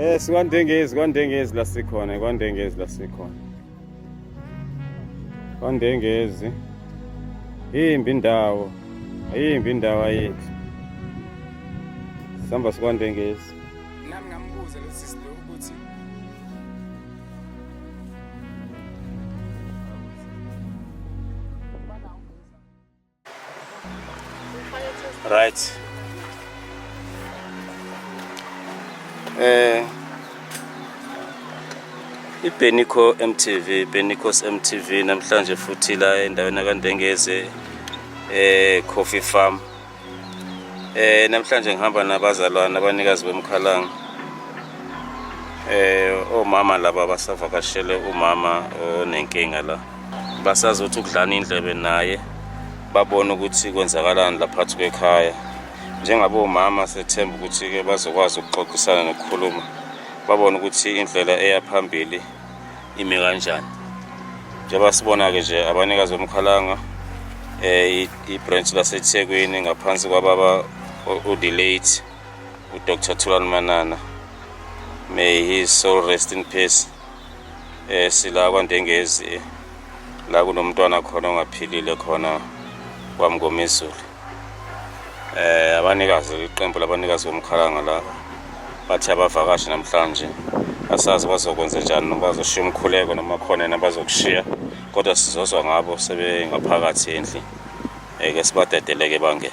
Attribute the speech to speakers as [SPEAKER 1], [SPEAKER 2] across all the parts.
[SPEAKER 1] Eh sikwandengezi kwandengezi la sikhona kwandengezi la sikhona. Kwandengezi. Imbi indawo. Ayimbi indawo ayethu. Sihamba sikwandengezi. Nami ngambuza
[SPEAKER 2] lo sisi lo ukuthi
[SPEAKER 1] Right. Eh iBenico MTV, Benicos MTV namhlanje futhi la endaweni kaNdengeze eh Coffee Farm. Eh namhlanje ngihamba nabazalwana abanikazi bomkhalanga. Eh omama laba basavakashele umama onenkinga la. basazothi ukudlana indlebe naye babone ukuthi kwenzakalani laphathi kwekhaya njengabe umama sethemba ukuthi-ke bazokwazi ukuxoxisana nokukhuluma babone ukuthi indlela eya phambili ime kanjani njengoba sibona-ke nje abanikazi bomkhalanga um ibranch lasethekwini ngaphansi kwababa udelate udr thulani manana may his soul rest in peace eh sila kwaNdengezi la kunomntwana khona ongaphilile khona kwamngomezulu eh abanikazi iqembu labanikazi bomkhalanga laba bathi abavakashi namhlanje asazi bazokwenza njani noma bazoshiya umkhuleko noma khona nabazokushiya kodwa sizozwa ngabo sebengaphakathi endlini eke sibadedeleke bangene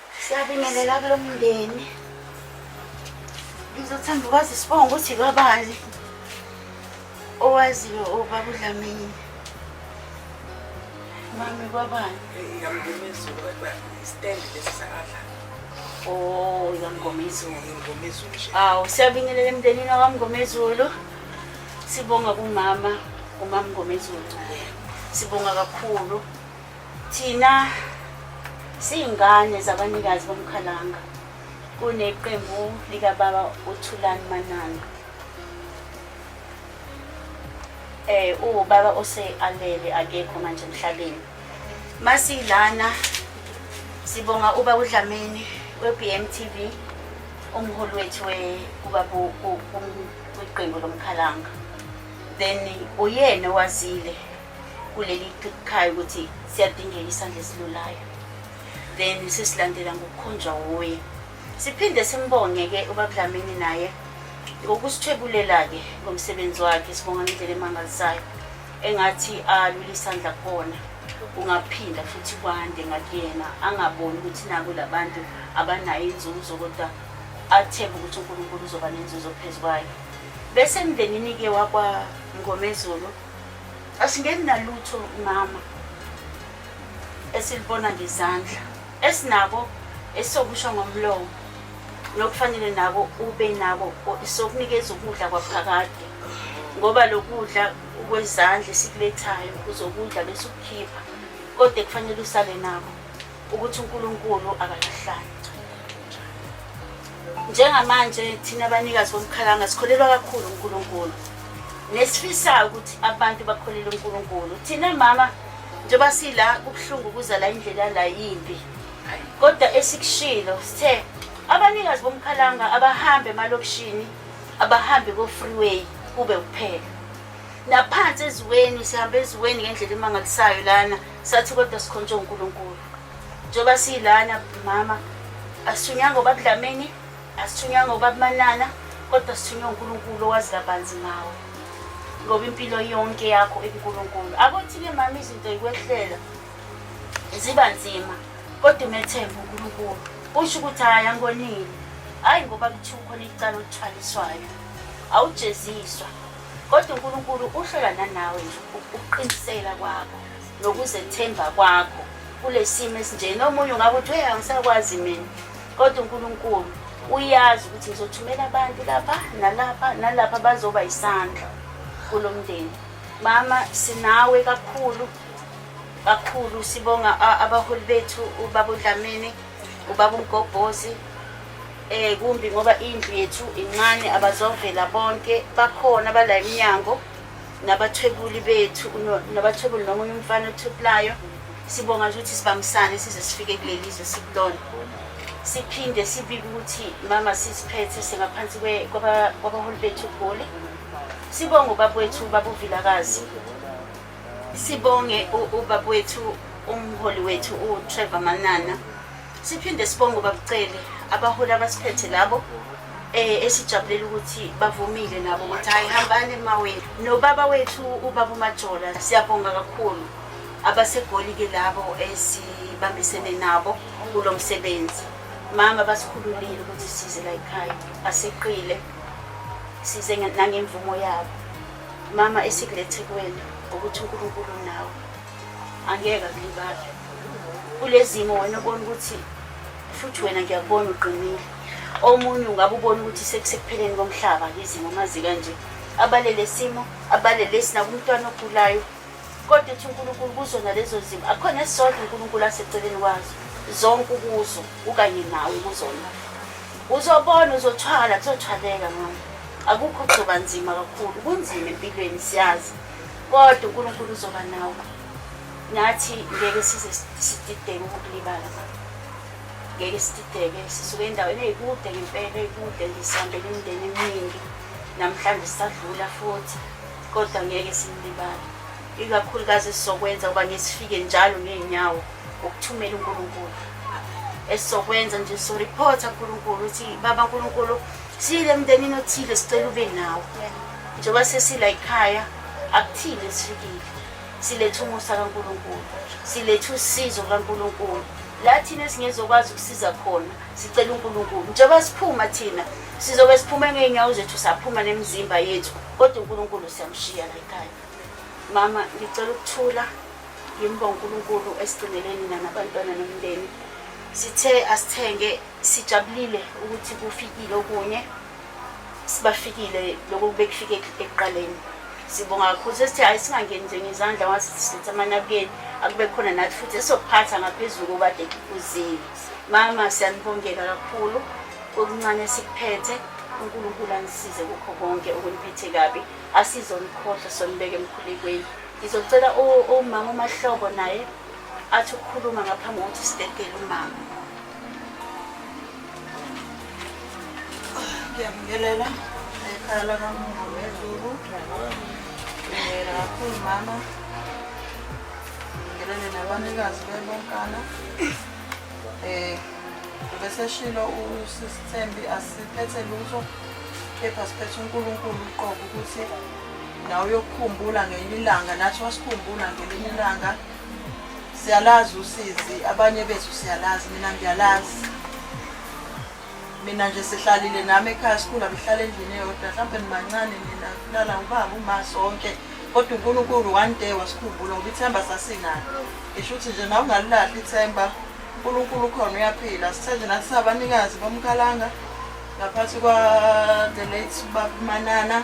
[SPEAKER 3] Siyabingelela kulo mndeni. Ngizothanda ukwazi isibongo ukuthi kabani owaziyo obaba uDlamini. Mami kwabani? Yamngoma izulu
[SPEAKER 2] stand lesi sakadla.
[SPEAKER 3] Oh, yamngoma izulu. Yamngoma izulu nje.
[SPEAKER 2] Awu siyabingelela
[SPEAKER 3] emndenini wakamngoma izulu. Sibonga kumama umamngoma izulu. Sibonga kakhulu. Thina siyingane zabanikazi bomkhalanga kuneqembu likababa uthulani manana eh ubaba osealele akekho manje emhlabeni masilana sibonga uba udlamini we-bm tv umholi wethu weqembu lomkhalanga then uyena owazile kuleli khaya ukuthi siyadingeka isandla esilulayo then sesilandela ngokukhonjwa wuye siphinde simbonge-ke ubabudlamini naye ngokusithwebulela-ke ngomsebenzi wakhe sibonga ngendlela emangalisayo engathi alule isandla khona kungaphinda futhi kwande ngakuyena angaboni ukuthi naku labantu abanayo inzuzo kodwa athembe ukuthi unkulunkulu uzoba nenzuzo phezu kwayo bese emndenini-ke wakwangomezulu asingeni nalutho mama esilibona ngezandla esinabo esokusho ngomlomo nokufanele nabo ube nabo sokunikeza ukudla kwaphakade ngoba lokudla kwezandla esikulethayo uzokudla bese ukukhipha kodwa kufanele usale nabo ukuthi uNkulunkulu akalahlani njengamanje thina abanikazi bomkhalanga sikholelwa kakhulu uNkulunkulu nesifisayo ukuthi abantu bakholele uNkulunkulu thina mama njengoba sila kubuhlungu kuza la indlela la yimbi kodwa esikushilo sithe abanikazi bomkhalanga abahambe emalokishini abahambe ko-freeway kube kuphela naphansi eziweni sihamba eziweni ngendlela emangalisayo lana sathi kodwa sikhontshe uNkulunkulu njengoba siyilana mama asithunyanga ubabudlameni asithunyanga ubabumanana kodwa sithunywe uNkulunkulu owazi kabanzi ngawe ngoba impilo yonke yakho ikuNkulunkulu akuthi-ke mama izinto yikwehlela ziba nzima kodwa umethembe uNkulunkulu usho ukuthi hhayi angonile hhayi ngoba kuthiwa ukhona icala olithwaliswayo awujeziswa Kodwa uNkulunkulu uhlola nanawe nje ukuqinisela kwakho nokuzethemba kwakho kulesimo esinjena omunye ungabe uthi hey angisakwazi mina kodwa uNkulunkulu uyazi ukuthi ngizothumela abantu lapha nalapha nalapha bazoba isandla kulo mndeni mama sinawe kakhulu kakhulu sibonga abaholi bethu ubaba uDlamini ubaba umgobhozi eh kumbi ngoba indlu yethu incane abazovela bonke bakhona bala iminyango nabathwebuli bethu nabathwebuli noma uye umfana othweplayo sibonga nje ukuthi sibambisane size sifike kuleli zwe sikulona siphinde sibike ukuthi mama sisiphethe singaphansi kwabaholi bethu goli sibonga ubabwethu babuvilakazi Sibonge ubaba wethu umholi wethu uTrevor Manana. Siphinde sibonge ubabucele abaholi abasiphethe labo eh esijabulela ukuthi bavumile nabo ukuthi hayi hambani emawethu nobaba wethu ubaba uMajola siyabonga kakhulu abasegoli ke labo esibambisene nabo kulo msebenzi mama basikhululile ukuthi size la ekhaya aseqile size nangemvumo yabo Mama esikulethe kuwena ngokuthi uNkulunkulu nawe angeke akulibale kulezimo wena ubona ukuthi futhi wena ngiyakubona uqinile omunye ungabe ubona ukuthi sekusekupheleni komhlaba ngizimo mazi kanje abalele simo abalele sinakumntwana ogulayo Kodwa uthi uNkulunkulu kuzona lezo zimo akukhona esisodwa uNkulunkulu aseceleni kwazo zonke ukuzo ukanye nawe kuzona uzobona uzothwala kuzothwaleka mama akukho kuzoba nzima kakhulu kunzima empilweni siyazi kodwa uNkulunkulu uzoba nawe nathi ngeke size sidideke ukulibala ngeke sidideke sisuke endaweni eyikude ngempela eyikude ngisihambela imindeni eminingi namhlanje sisadlula futhi kodwa ngeke simlibale ikakhulukazi esizokwenza uba ngesifike njalo ngey'nyawo ngokuthumela unkulunkulu esizokwenza nje soripotha nkulunkulu ukuthi baba nkulunkulu siyile mndenini othile sicela ube nawo njengoba sesila yikhaya akuthile sifikile siletha umusa kankulunkulu siletha usizo lukankulunkulu la thina esingezokwazi ukusiza khona sicela uNkulunkulu njengoba siphuma thina sizobe siphume ngeenyawo zethu saphuma nemizimba yethu kodwa uNkulunkulu siyamshiya la ekhaya mama ngicela ukuthula ngimba uNkulunkulu esigcineleni nanabantwana nomndeni sithe asithenge sijabulile ukuthi kufikile okunye sibafikile lokho kubekufike ekuqaleni sibonga kakhulu sesithi hhayi singangeni nje ngezandla wasisithi amanabukeni akube khona nathi futhi esokuphatha ngaphezulu obade kuzile Mama siyanibongela kakhulu okuncane sikuphethe uNkulunkulu anisize kukho konke okuniphethe kabi asizonikhohlwa sonibeke emkhulekweni ngizocela umama umahlobo naye athi ukukhuluma ngaphambi kokuthi sidedele umama ngiyamngelela
[SPEAKER 4] ekhaya lakamuntu wezulu ngiyela kakhulu mama Ngelele nabanikazi bebonkana eh ubeseshilo usisithembi asiphethe lutho kepha siphethe uNkulunkulu uqobo ukuthi nawe uyokukhumbula ngelinye ilanga nathi wasikhumbula ngelinye ilanga siyalazi usizi abanye bethu siyalazi mina ngiyalazi mina nje sihlalile nami ekhaya sikhula bihlala endlini eyodwa mhlawumbe nibancane nina kulala ubaba uma sonke kodwa unkulunkulu one day wasikhumbula ngoba ithemba sasinalo ngisho ukuthi nje nawe ungalilahli ithemba unkulunkulu ukhona uyaphila sithe nje nathi sabanikazi bomkhalanga ngaphansi kwa-the late bakumanana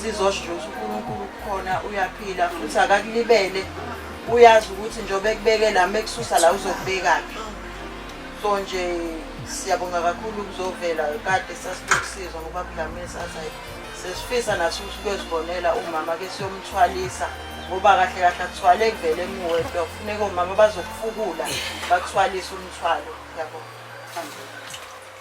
[SPEAKER 4] sizosho ukuthi uNkulunkulu ukhona uyaphila futhi akakulibele uyazi ukuthi njengoba ekubekela uma ekususa la uzokubekaphi so nje siyabonga kakhulu ukuzovela kade sasinokusizwa ngoba kudlamini sathi sesifisa nathi ukuthi kuyozibonela umama ke siyomthwalisa ngoba kahle kahle akuthwale kuvele muwe kuyofuneka omama bazokufukula bakuthwalise umthwalo yabo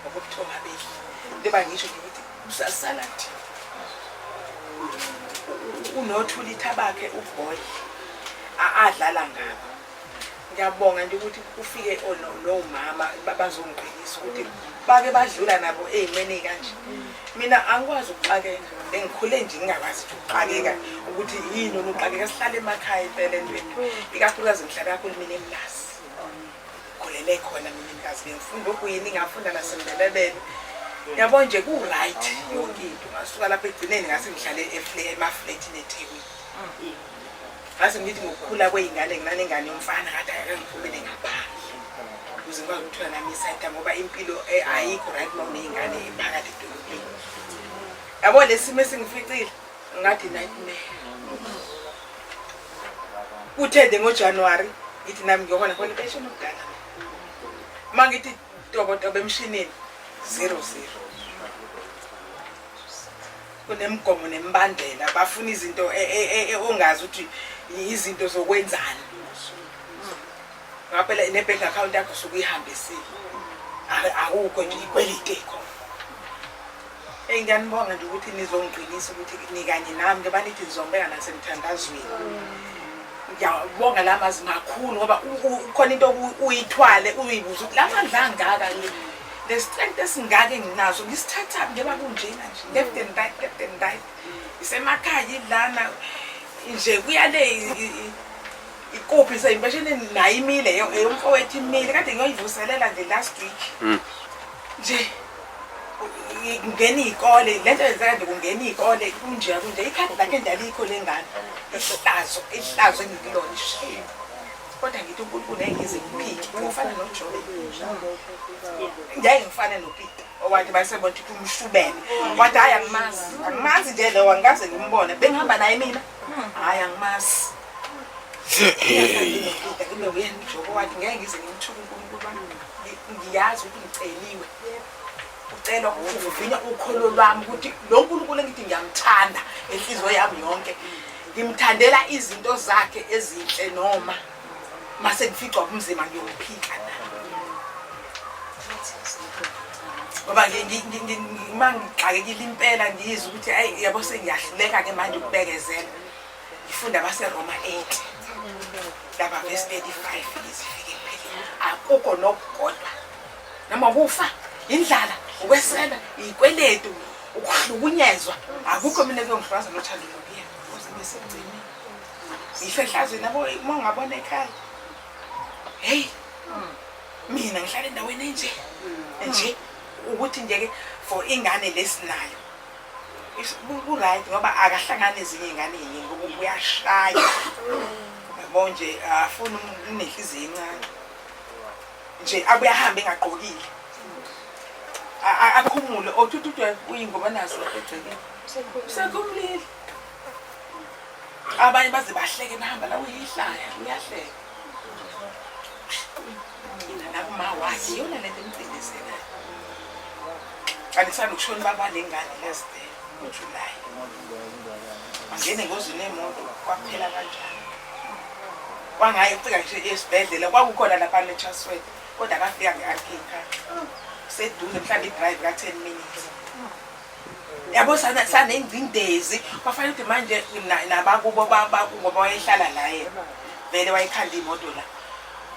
[SPEAKER 2] ngokobuthonga bedli njengoba ngisho nje ukuthi kusasala nje unothulitha bakhe uboy adlala ngabo ngiyabonga nje ukuthi ufike nomama bazongiqinisa ukuthi bake badlula nabo ey'meni kanje mina angikwazi ukuxakeka engikhule nje ngingakwazi ukuthi ukuxakeka ukuthi yini onuxakeka sihlale emakhaya impela entweni ikakhulukazi ngihlala kakhulu mina emlasi khulele khona mina inkazi bengifunda ogwini ngafunda nasembelebele yabo nje ku-right yonke into ngasuka lapho egcineni ngase ngihlale emafletini ethekwini ngase ngithi ngokukhula kwey'ngane nginanengane yomfana kade akangiphumele ngaphandle ukuze ngikwazi ukuthola nami isayida ngoba impilo eh, ayikho right uma uney'ngane phakathi edolobheni yabo le simo esingificile ngathi nightmare kuthende ngojanuwari ngithi nami ngiyobona khona impesheni omdala uma ngithi tobotobo emshinini zero zero kunemigomo nemibandela bafuna izinto e, e, e, ongazi ukuthi izinto zokwenzani ngaphela ne-bank account yakho sukuyihambisile akukho nje ikwelite khona Eyi ngiyanibonga nje ukuthi nizongiqinisa ukuthi nikanye nami njengoba nithi nizongibeka nasemthandazweni ngiyabonga la mazi makhulu ngoba khona into uyithwale uyibuze ukuthi la mandla angaka nje lesitrength esingaka enginaso ngisithatha njengoba kunjena nje left and right left and right isemakhaya ilana nje kuyale ikuphi seyimpesheneni nayo imile eyomfowethu imile kade ngiyoyivuselela nje last week hmm. nje mm. kungena iy'kole le nto yenzeka nje kungena iy'kole kunje kunje ikhadi lakhe nje alikho le ngane ihlazo ihlazo engikulona ishini kodwa ngithi unkulunkulu ngeke ngize ngiphike ngifana nojobe ngeke ngifane nopita owathi bayisebona ukuthi umshubene wathi hhayi angimazi angimazi nje lowo angikaze ngimbone bengihamba naye mina hhayi angimazi ngiyazi ukuthi ngiceliwe ucela ukuvina ukholo lwami ukuthi lo nkulunkulu engithi ngiyamthanda enhliziyo yami yonke ngimthandela izinto zakhe ezinhle noma mase ngificwa ubumzima ngiyophika ngoba uma ngixakekile impela ngiyizwa ukuthi ayi yabo sengiyahluleka-ke manje ukubekezela Ifunda baseRoma 8 laba verse 35 izifike empheleni akukho nokukodwa noma kufa indlala ukwesela ikweletu ukuhlukunyezwa akukho mina kuyongihlukaza nothando lokuya kuze besemgcini ngisho ehlazweni abo uma ungabona ekhaya heyi mina ngihlala endaweni enje nje ukuthi nje-ke for ingane lesinayo ku-right ngoba akahlangani ezinye ingane yini ngoba uyashaya yabo nje afuna unenhliziyo encane nje abuye ahambe engagqokile akhumule othuthuthwe uyingoba nazo egcekeni usekumlile abanye baze bahleke nahamba la uyihlaya uyahleka Inkinga la kuma wazi yona lento emcindezelayo. Anisanda ukushona baba lengane last day uJuly. Angene ngozini yemoto kwaphela kanjani. Wangayi ufika nje esibhedlela kwakukhona lapha neTraswell kodwa akafika ngeArcade. Sedule mhlawumbe idrive ka 10 minutes. yabo sanengcindezi kwafanele ukuthi manje nabakubo bakubo bawayehlala laye vele wayekhanda imoto la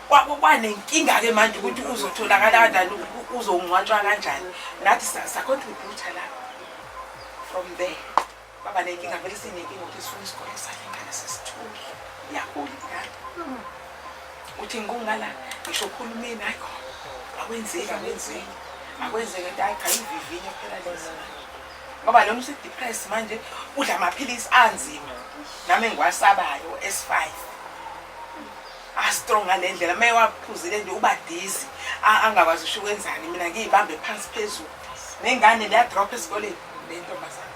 [SPEAKER 2] kwanenkinga-ke manje ukuthi uzotholakala kanjani uzongcwatshwa kanjani nathi sacontributa la from there baba nenkinga vele sinenkinga ukuthi sifuna isikole sakhe ngane sesithule yakhula ingane uthi ngikungala ngisho uhulumeni hayi khona akwenzeki akwenzeki akwenzeke nto ayi cha ivivinyo phela lezi ngoba noma usedepressed manje udla amaphilisi anzima nami engiwasabayo s5 astrong ngale ndlela uma ewaphuzile nje uba dizi angakwazi usho ukwenzani mina ngiyibambe phansi phezulu nengane leyadrop esikoleni le ntombazane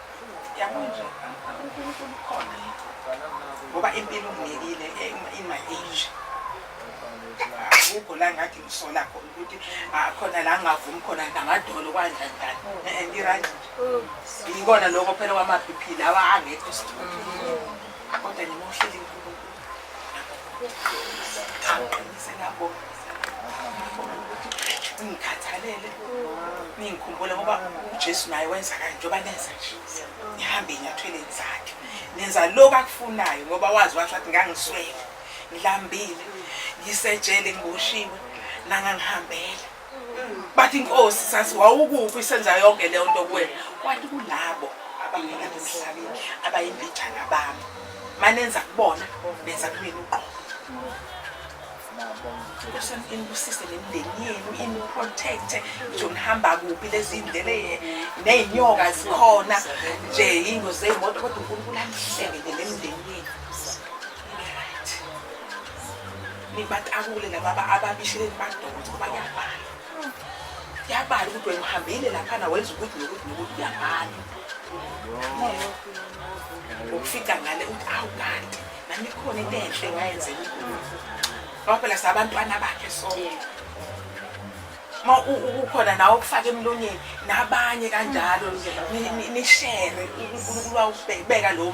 [SPEAKER 2] Yabonje, uNkulunkulu ukhona yethu. Ngoba impilo unginikile eh, in my age. Akukho la ngathi ngisola khona ukuthi ah, khona la ngavumi khona ngamadolo kwanja njani. Eh, eh, Ngirange. Yikona lokho phela kwama-BP lawa angekho sithunzi. Kodwa ngimuhleli ngikhathalele ningikhumbule ngoba ujesu naye wenza kanje njengoba nenza nje nihambe ey'nyathweleni zakhe nenza lokhu akufunayo ngoba wazi washo athi ngangiswele ngilambile ngisejele ngiboshiwe nangangihambela bathi inkosi sathi wawukuphi isenza yonke leyo nto kuwena kwathi kulabo abangena emhlabeni abayimbijana bami manenza kubona benza kumina uqobo Nkosi inibusise nemindeni yenu iniprotecte nje nihamba kuphi lezi ndlele nezinyoka zikhona nje ingozi zeyimoto kodwa uNkulunkulu anihleke nemindeni yenu nibatakule lababa ababishile nibadonse ngoba kuyabhala kuyabhala ukuthi wena uhambile laphana wenza ukuthi nokuthi nokuthi kuyabhala ukufika ngale ukuthi awu kanti nami khona into enhle wayenzela ngoba phela sabantwana bakhe sonke uma ukhona nawe okufaka emlonyeni nabanye kanjalo nishere unkulunkulu wawubeka lo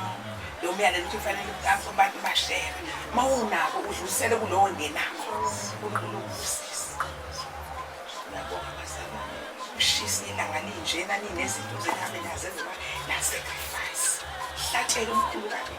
[SPEAKER 2] lo myalelo ukuthi kufanele abantu bashere uma unako udlulisele kulowo ngenakho ushisa ilanga linjena ninezinto zenihambe nazo eziba nasacrifice hlatshela umkhulu kabi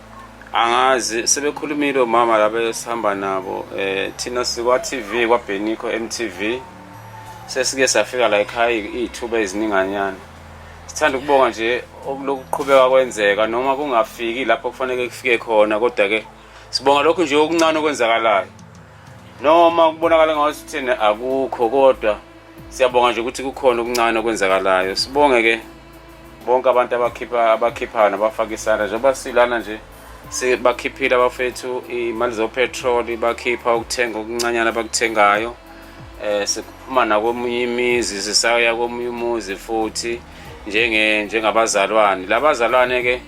[SPEAKER 1] angazi sebekhulumile omama labe sihamba nabo eh thina sikwa TV kwa Benikho MTV sesike safika la ekhaya izithuba ezininganyana sithanda ukubonga nje okulokuqhubeka kwenzeka noma kungafiki lapho kufanele kufike khona kodwa ke sibonga lokhu nje okuncane okwenzakalayo noma kubonakala ngathi thina akukho kodwa siyabonga nje ukuthi kukhona okuncane okwenzakalayo sibonge ke bonke abantu abakhipha abakhiphayo nabafaka isandla njengoba silana nje bakhiphile abafethu imali zopetroli bakhipha ukuthenga okuncanyana abakuthengayo eh sikuphuma nakomunye imizi sisaya komunye umuzi futhi njenge njengabazalwane labazalwane ke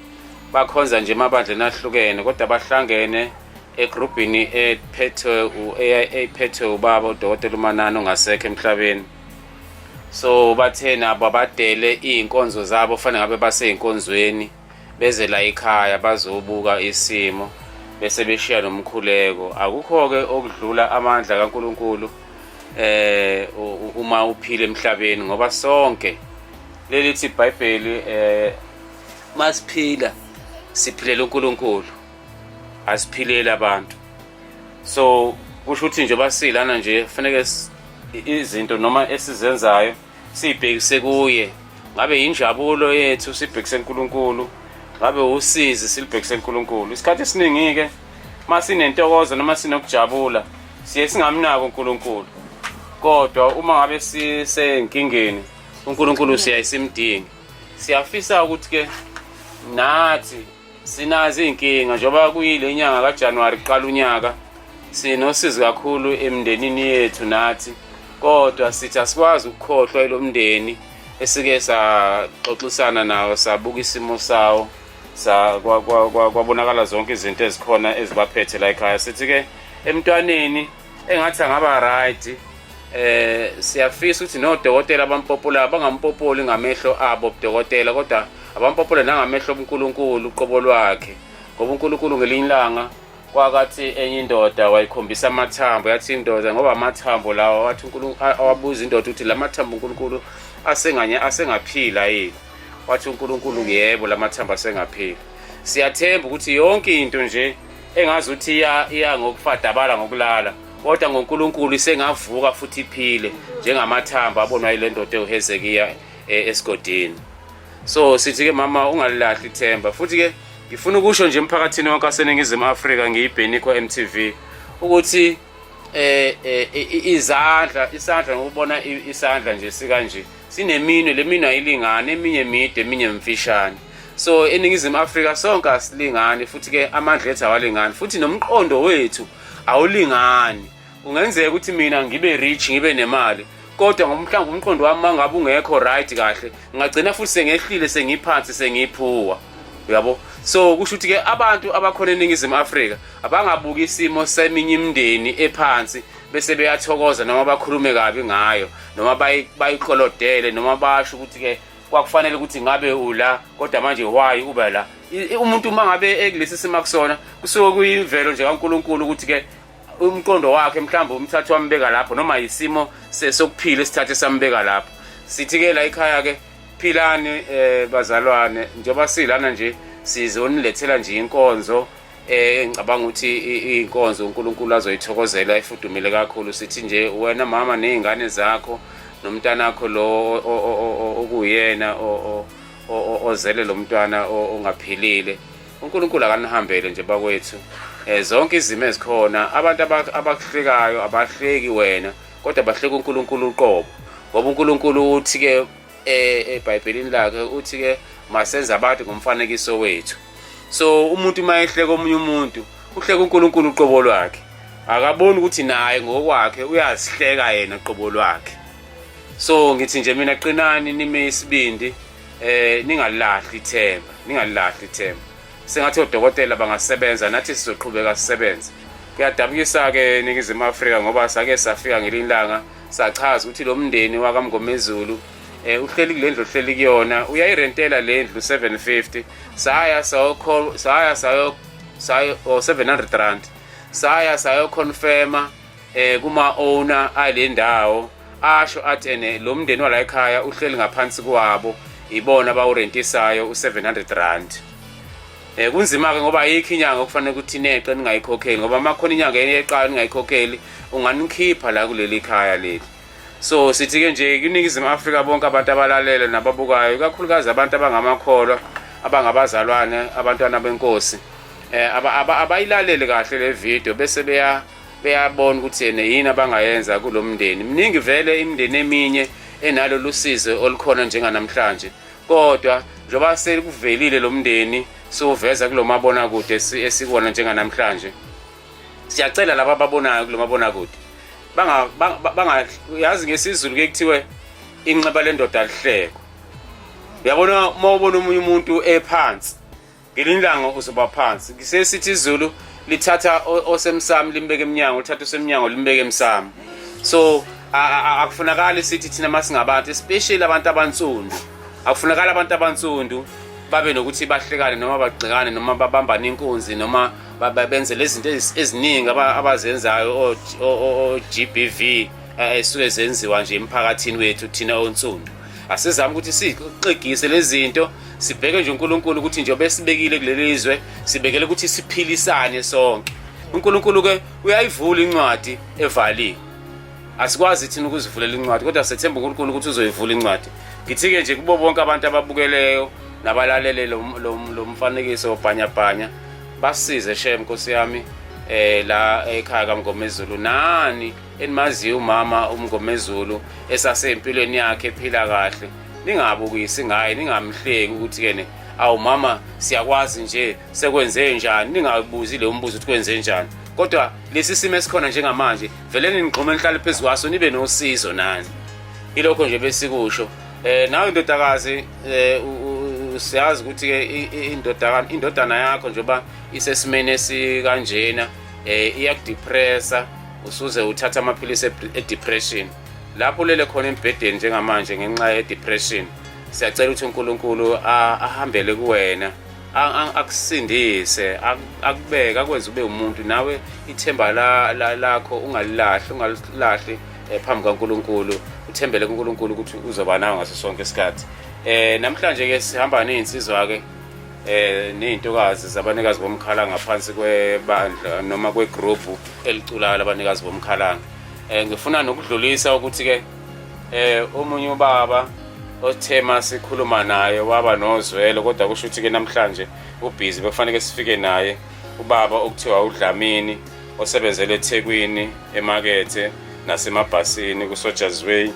[SPEAKER 1] bakhonza nje emabandleni ahlukene kodwa bahlangene egrubhini ephethwe eyiphethwe ubaba udokotela umanani ongasekho emhlabeni so bathe nabo abadele iy'nkonzo zabo fanele ngabe basey'nkonzweni beze la ekhaya bazobuka isimo bese beshiya nomkhuleko akukho-ke okudlula amandla kankulunkulu eh uma uphile emhlabeni ngoba sonke lelithi ibhayibheli eh masiphila siphilela uNkulunkulu asiphileli abantu so kusho ukuthi nje basilana nje kufaneke izinto noma esizenzayo siyibhekise kuye ngabe yinjabulo yethu sibhekise uNkulunkulu ngabe usizi silibhekise uNkulunkulu isikhathi esiningi ke masinentokozo noma sinokujabula siye singamnaki uNkulunkulu kodwa uma ngabe sisenkingeni uNkulunkulu siyayisimdingi siyafisa ukuthi ke nathi Sinazi inkinga njengoba kuyile nyanga kaJanuary kuqala unyaka sinosizi kakhulu emndenini yethu nathi kodwa sithi asikwazi ukukhohlwa ilo mndeni esike saxoxisana nawo sabuka isimo sawo kwabonakala zonke izinto ezikhona ezibaphethe la ekhaya sithi-ke emntwaneni engathi angaba right eh siyafisa ukuthi nodokotela abampopula bangampopoli ngamehlo abo ubudokotela kodwa abampopula nangamehlo obuNkulunkulu uqobo lwakhe ngoba uNkulunkulu ngelinye ilanga kwakathi enye indoda wayikhombisa amathambo yathi indoda ngoba amathambo lawa wathi uNkulunkulu awabuza indoda ukuthi la mathambo uNkulunkulu asenganye asengaphila yini wathi uNkulunkulu yebo la mathambo asengaphila siyathemba ukuthi yonke into nje engazi ukuthi iya iya ngokufadabala ngokulala kodwa ngoNkulunkulu isengavuka futhi iphile njengamathamba abonwa ile ndoda ewuHezekiya eh, esigodini so sithi ke mama ungalilahli ithemba futhi ke ngifuna ukusho nje emphakathini wonke waseningizimu afrika ngiyibhenikho mtv ukuthi eh, eh izandla isandla ngokubona isandla nje sikanje sineminwe le minwe ayilingani eminye mide eminye mfishane so eningizimu afrika sonke asilingani futhi-ke amandla ethu awalingani futhi nomqondo wethu awulingani kungenzeka ukuthi mina ngibe rich ngibe nemali kodwa ngomhlawumbe umqondo wami mangabe ungekho right kahle ngagcina futhi sengehlile sengiphansi sengiphuwa uyabo so kusho ukuthi-ke abantu abakhona eningizimu afrika abangabuki isimo seminye imindeni ephansi bese beyathokoza noma bakhulume kabi ngayo noma bayiqolodele noma basho ukuthi-ke kwakufanele ukuthi ngabe ula kodwa manje why uba la umuntu uma ngabe ekulesi simo akusona kusuke kuyimvelo nje kankulunkulu ukuthi-ke umqondo wakhe mhlawumbe umthatha wambeka lapho noma yisimo sokuphila esithathe sambeka lapho sithi-ke la ikhaya-ke philani um bazalwane njengoba silana nje sizonilethela nje inkonzo eh ngicabanga ukuthi inkonzo uNkulunkulu azoyithokozela ifudumile kakhulu sithi nje wena mama nezingane zakho nomntana wakho lo okuyena ozele lo mntwana ongaphilile uNkulunkulu akanihambele nje bakwethu eh zonke izimo ezikhona abantu abakuhlekayo abahleki wena kodwa bahleka uNkulunkulu uqobo ngoba uNkulunkulu uthi ke eh eBhayibhelini lakhe uthi ke masenze abantu ngomfanekiso wethu so umuntu uma ehleka omunye umuntu uhleka uNkulunkulu uqobo lwakhe akaboni ukuthi naye ngokwakhe uyazihleka yena qobo lwakhe so ngithi nje mina qinani nime isibindi eh ningalahli ithemba ningalahli ithemba sengathi odokotela bangasebenza nathi sizoqhubeka sisebenze kuyadabukisa ke ningizimu Afrika ngoba sake safika ngelinye ilanga sachaza ukuthi lo mndeni wakamngomezulu eh uhleli kule ndlu uhleli kuyona uyayirentela le ndlu 750 saya sayo saya sayo sayo 700 rand saya sayo confirma eh kuma owner ale ndawo asho athi ene lo mndeni wala ekhaya uhleli ngaphansi kwabo ibona bawurentisayo u700 rand Eh kunzima ke ngoba ayikho inyanga okufanele ukuthi neqe ningayikhokheli ngoba uma khona inyanga eyeqayo ningayikhokheli unganikhipha la kuleli khaya leli. So sithi ke nje kuningizimu Afrika bonke abantu abalalele nababukayo ikakhulukazi abantu abangamakholwa abangabazalwane abantwana benkosi eh abayilalele kahle le video bese beya beyabona ukuthi yena yini abangayenza kulomndeni mningi vele imindeni eminye enalolu sizo olukhona njenganamhlanje kodwa njengoba sekuvelile lo mndeni siwuveza kulo mabonakude esikona njenganamhlanje siyacela laba ababonayo kulo mabonakude yazi ngesizulu ke kuthiwe inxeba lendoda lihleko uyabona uma ubona omunye umuntu ephansi ngelinye ilanga uzoba phansi ngisesithi izulu lithatha osemsamo limbeke emnyango lithatha osemnyango limbeke emsamo so akufunakali sithi thina masingabantu especially abantu abansundu akufunakali abantu abansundu babe nokuthi bahlekane noma bagxekane noma babambane inkunzi noma benze lezi zinto eziningi abazenzayo o-GBV eh, esuke zenziwa nje emphakathini wethu thina onsundu asizame ukuthi sixegise lezi zinto Sibheke nje uNkulunkulu ukuthi njengoba esibekile kuleli zwe sibekele ukuthi siphilisane sonke. uNkulunkulu ke uyayivula incwadi evaliwe asikwazi thina ukuzivulela incwadi kodwa sethemba uNkulunkulu ukuthi uzoyivula incwadi ngithike nje kubo bonke abantu ababukeleyo nabalalele lo mfanekiso wobhanyabhanya basize shem nkosi yami eh la ekhaya kaMngomezulu nani enimaziyo umama umngomezulu esasempilweni yakhe ephila kahle ningabukisi ngaye ningamhleki ukuthi kene awu mama siyakwazi nje sekwenze njani ningabuzi le umbuzo ukuthi kwenze njani kodwa lesi simo esikhona njengamanje vele ninigxuma nihlale phezu kwaso nibe nosizo nani ilokho nje besikusho eh nawe ndodakazi eh, siyazi ukuthi ke indodana indodana yakho njengoba isesimene sikanjena eh iyakudepressa usuze uthatha amaphilisi e-depression lapho ulele khona embhedeni njengamanje ngenxa ye-depression siyacela ukuthi unkulunkulu ahambele kuwena akusindise akubeke akwenze ube umuntu nawe ithemba lakho ungalilahli ungalilahli eh, phambi kankulunkulu uthembele kunkulunkulu ukuthi uzoba nawe ngaso sonke isikhathi um namhlanje-ke sihamba ney'nsizwa-ke eh nezintokazi zabanikazi bomkhala ngaphansi kwebandla noma kwegroup eliculayo labanikazi bomkhala eh ngifuna nokudlulisa ukuthi ke eh omunye ubaba othe masikhuluma naye waba nozwelo kodwa kusho ukuthi ke namhlanje ubhizi bekufanele sifike naye ubaba okuthiwa udlamini osebenzele eThekwini emakethe nasemabhasini kuSoja's Way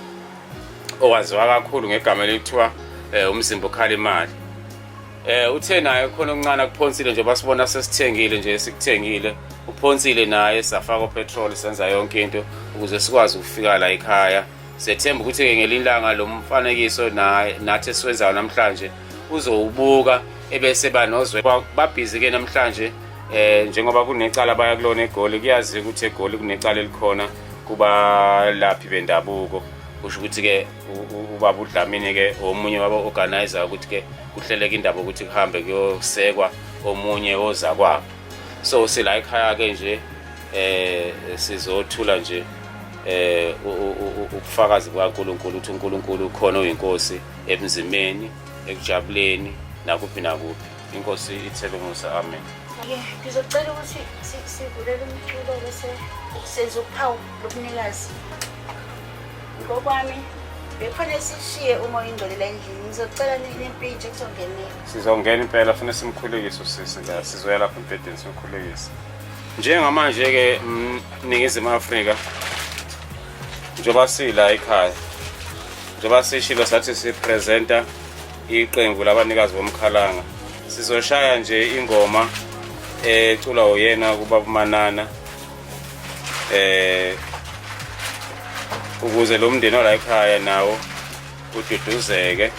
[SPEAKER 1] owaziwa kakhulu ngegama elithiwa eh, umzimba okhala imali eh uthe naye khona okuncane kuphonsile nje basibona sesithengile nje sikuthengile uphonsile naye safaka petrol senza yonke into ukuze sikwazi ukufika la ekhaya sethemba ukuthi ke ngelinye ilanga lo mfanekiso naye nathi esiwenzayo namhlanje uzowubuka ebese banozwe babhizi ke namhlanje eh njengoba kunecala baya kulona egoli kuyazi ukuthi egoli kunecala elikhona kubalaphi bendabuko kusho ukuthi-ke ubaba udlamini-ke omunye waba-organizer ukuthi-ke kuhleleka indaba ukuthi kuhambe kuyosekwa omunye ozakwabo so sila ekhaya-ke nje eh sizothula nje eh ubufakazi bukaNkuluNkulu uthi uNkuluNkulu ukhona uyinkosi emzimeni ekujabuleni nakuphi nakuphi Inkosi ithele umusa amen. Yeah, ngizocela
[SPEAKER 3] ukuthi sivulele umculo bese senza uphawu lobunikazi. Ngokwami bekufanele sishiye uma oyingcolela endlini ngizocela nempintsha kuzongenela sizongena impela
[SPEAKER 1] funa simkhulekise usisi la sizoya lapho embhedeni simkhulekise njengamanje-ke mningizimu afrika njengoba sila ekhaya njengoba sishilo sathi sipresenta Iqembu labanikazi bomkhalanga sizoshaya nje ingoma eculwa eh, uyena kuBaba Manana eh ukuze lo mndeni ola ekhaya nawo ududuzeke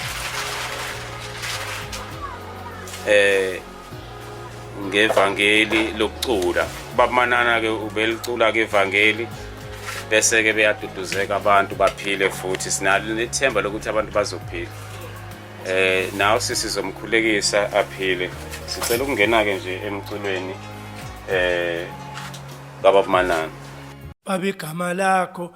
[SPEAKER 1] eh ngevangeli lokucula bamanana ke ubelicula ke evangeli bese ke beyaduduzeka abantu baphile futhi sinalo nethemba lokuthi abantu bazophila eh nawo sisizomkhulekisa aphile sicela ukungena ke nje emculweni eh baba manana babegama
[SPEAKER 5] lakho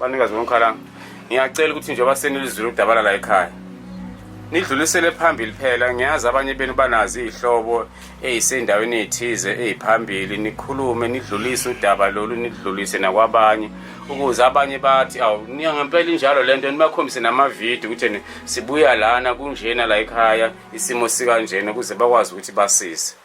[SPEAKER 1] banikazi bomkhalanga ngiyacela ukuthi njengoba senilizwile udabala la ekhaya nidlulisele phambili phela ngiyazi abanye benu banazi iy'hlobo ey'sendaweni ey'thize ey'phambili nikhulume nidlulise udaba lolu nidlulise nakwabanye ukuze abanye bathi awu ngempela injalo le nto nibakhombise namavidiyo ukuthi sibuya lana kunjena la ekhaya isimo sikanjena ukuze bakwazi ukuthi basise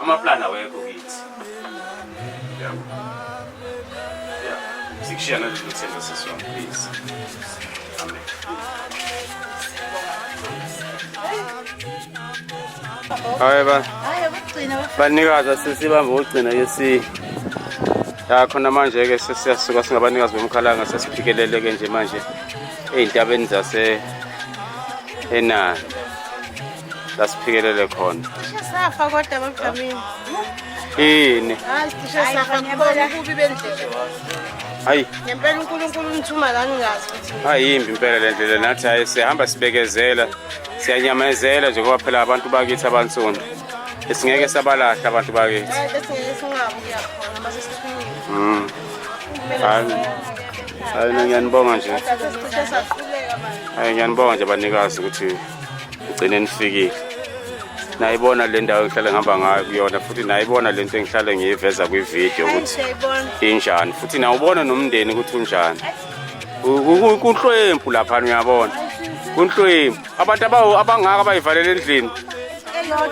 [SPEAKER 1] Amaplan awekho kithi. Yeah. Yeah. Sikushiya nalolu themba siswa please. Amen. Hayi ba. Hayi ukugcina bafana. Banikaza sesibamba ukugcina ke si. Ya khona manje ke sesiyasuka singabanikazi bomkhalanga sesiphikelele ke nje manje ezintabeni zase enani. lasiphikelele khona safa kodwa
[SPEAKER 6] babujamile
[SPEAKER 1] yini
[SPEAKER 6] hayi
[SPEAKER 1] ngempela unkulunkulu
[SPEAKER 6] umthuma la ningazi ayimbi impela le ndlela
[SPEAKER 1] nathi hayi sihamba sibekezela siyanyamezela nje ngoba phela abantu bakithi abansundu esingeke sabalahla abantu
[SPEAKER 6] bakithi mm. hayi
[SPEAKER 1] ngiyanibonga nje
[SPEAKER 6] hayi ngiyanibonga nje
[SPEAKER 1] banikazi ukuthi ngigcine nifikile nayibona le ndawo engihlale ngihamba ngayo kuyona futhi nayibona le nto engihlale ngiyiveza kwividiyo ukuthi injani futhi nawubona nomndeni ukuthi unjani kunhlwempu laphana uyabona kunhlwempu abantu abangaka abayivalela endlini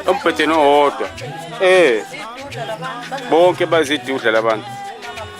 [SPEAKER 1] embhedeni owodwa um bonke bazidudla labantu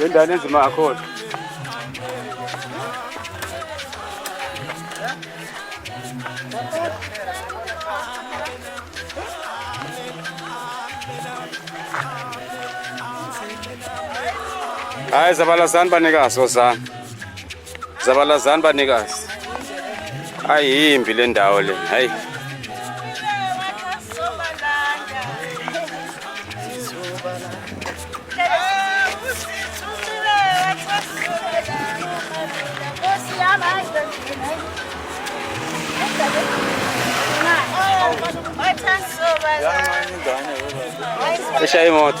[SPEAKER 1] Le ndane ezima kakhulu. Hayi zabalazani banikazi ozani. Zabalazani banikazi. Ayimbi le ndawo le. Hayi. Deixa aí, moto.